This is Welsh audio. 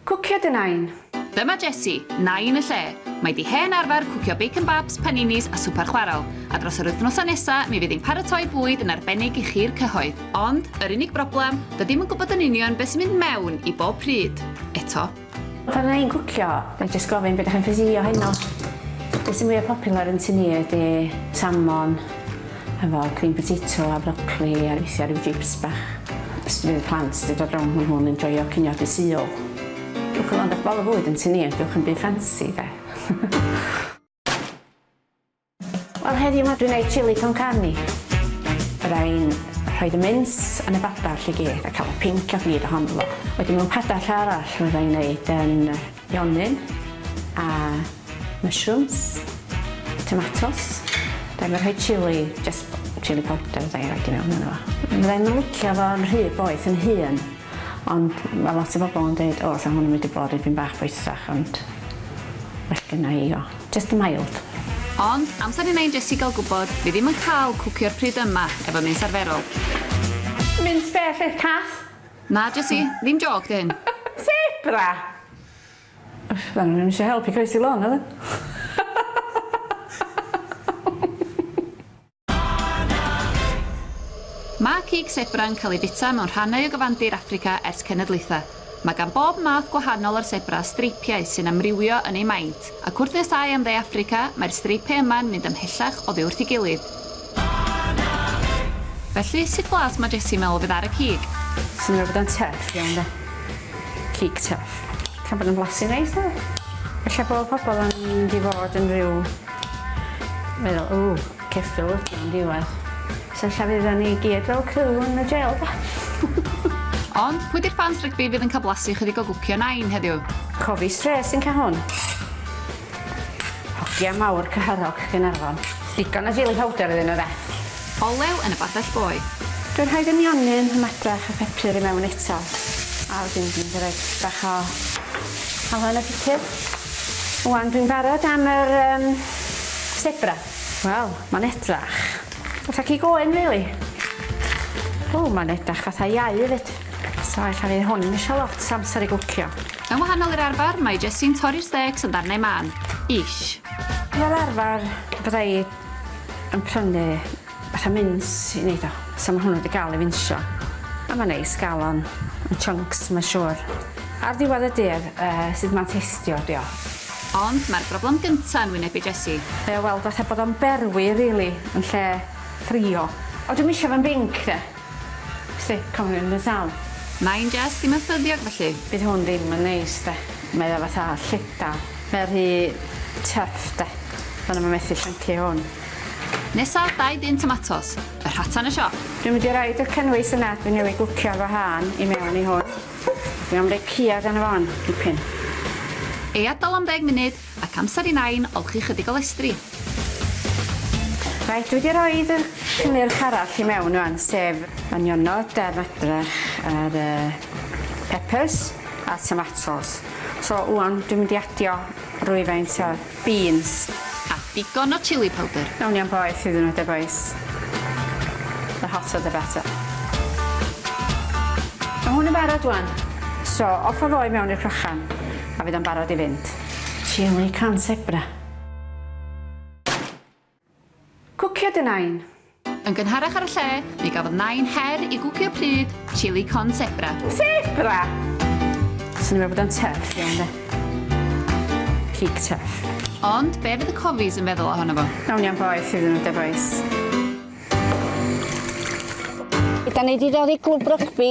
Cwcio dy Nain! Dyma Jessie, Nain y lle. Mae di hen arfer cwcio bacon babs, paninis a swper chwarel, a dros yr wythnosau nesa mi fydd hi'n paratoi bwyd yn arbennig i chi'r cyhoedd. Ond, yr unig broblem, dydi'm yn gwybod yn union be sy'n mynd mewn i bob pryd, eto. Pan fydda i'n cwcio, na i jyst gofyn be dach chi'n ffeisio heno. Be sy'n fwya popular yn tŷ ni ydi salmon, Hefo cream potato a brocli a weithia ryw jips bach. Jyst fydd y plant 'di dod rownd ma nhw'n enjoio cinio Dydd Sul. Gewch chi weld eich bol o fwyd yn tŷ ni a gewch ddim byd ffansi de. Wel heddiw 'ma dwi'n neud chili con carne. Fydda i'n rhoid y mins yn y badar 'lly gyd a cael y pinc a gwir ohono fo. Wedyn mewn padar arall fydda i'n neud yym Yonyn a mushrooms, tomatos. Dwi'm yn rhoi chili, jyst chili powder fydda i'n rhoid i mewn yno fo. Fydda i'm yn licio fo yn rhy boeth yn hun, ond ma' lot o bobl yn deud o 'sa hwn yn mynd i bod dipyn bach boethach ond well gynna i o jyst mild. Ond amser i Nain Jessie gael gwybod, fi ddim yn cael cwcio'r pryd yma efo mints arferol. Mints beth oedd cath? Na Jessie, ddim jôc 'di hyn. Sebra! Fyddan nhw ddim eisiau help i croesi lôn, oedden? Mae cig sebra'n cael ei fwyta mewn rhannau o gyfandir Affrica ers cenedlaethau. Mae gan bob math gwahanol o'r sebra streipiau sy'n amrywio yn eu maint, ac wrth nes â i am Dde Affrica, mae'r streipiau yma'n mynd ymhellach oddi wrth ei gilydd. Felly, sut blas mae Jessie yn meddwl fydd ar y cig? Swnio bod o'n tough iawn 'de. Cig tough. Tra bod o'n blasu neis 'de? Ella bod pobol yn mynd i fod yn ryw meddwl ww ceffyl ydi o yn diwadd. So ella fyddan ni gyd fel criw yn y jêl 'de? Ond, pwy 'di'r ffans rygbi fydd yn cael blasu ychydig o gwcio Nain heddiw? Cofi strêt sy'n ca' hwn. Hogia mawr Cyhyrog Gaernarfon. Digon o jili powder iddyn nhw de. Olew yn y badell boeth. Dwi'n rhoid y mionyn, y madrach a phepur i mewn eto a wedyn dwi'n mynd i roid bach o halen y pupur. Ŵan dwi'n barod am yr um, sebra. Wel, mae'n edrach fatha cig oen rili. Really. O, mae'n edrach fatha iau hefyd. So ella fydd hwn ddim isio lot o amser i gwcio. Yn wahanol i'r arfer, mae Jessie'n torri'r stêcs yn ddarnau mân. Ish. Fel arfer, bydda i yn prynu fatha mins i neud o. So ma' hwnnw 'di ga'l ei finsio. A ma'n neis ga'l o yn yn chunks mae'n siŵr. Ar ddiwedd y dydd, yy, sud ma'n teistio ydi o. Ond mae'r broblem gynta yn wynebu Jessie. Mae o weld fatha bod o'n berwi rili yn lle ffrio. O dwi'm isio fo'n binc de. Sut cawn hyn yn sâl? Mae'n jest ddim yn ffyddiog felly. Bydd hwn ddim yn neis de. Mae o fatha llydaw. Mae o rhy tuff de. Fyddwn i'm yn methu llyncu hwn. Nesa, dau dun tomatos. Y rhata yn y siop. Dwi'n mynd i roid y cynnwys yna dwi newydd gwcio efo hân i mewn i hwn. Dwi am roi ceuad arno fo 'wan, dipyn. Ei adael am ddeg munud. Ac amser i Nain olchi chydig o lestri. Reit, dwi wedi rhoi y cynnyrch arall i mewn rwan, sef y nionod a'r madrach a'r uh, peppers a tomatoes. So rwan dwi'n mynd i adio rwyfaint o beans. A digon o chili powdr. Nawn ni am boeth iddyn nhw de boys. The hotter the better. Mae hwn yn barod rwan. So off o fo i mewn i'r crochan. A fydd o'n barod i fynd? Chilli can sebra. Cwcio dy nain! Yn gynharach ar y lle, mi gafodd nain her i gwcio pryd chilli con sebra. Sebra! Swn i'n meddwl bod o'n tuff iawn de. Cig tuff. Ond be fydd y cofis yn feddwl ohono fo? Nawn ni am boeth iddyn nhw de bois. Ydan ni di dod i glwb rygbi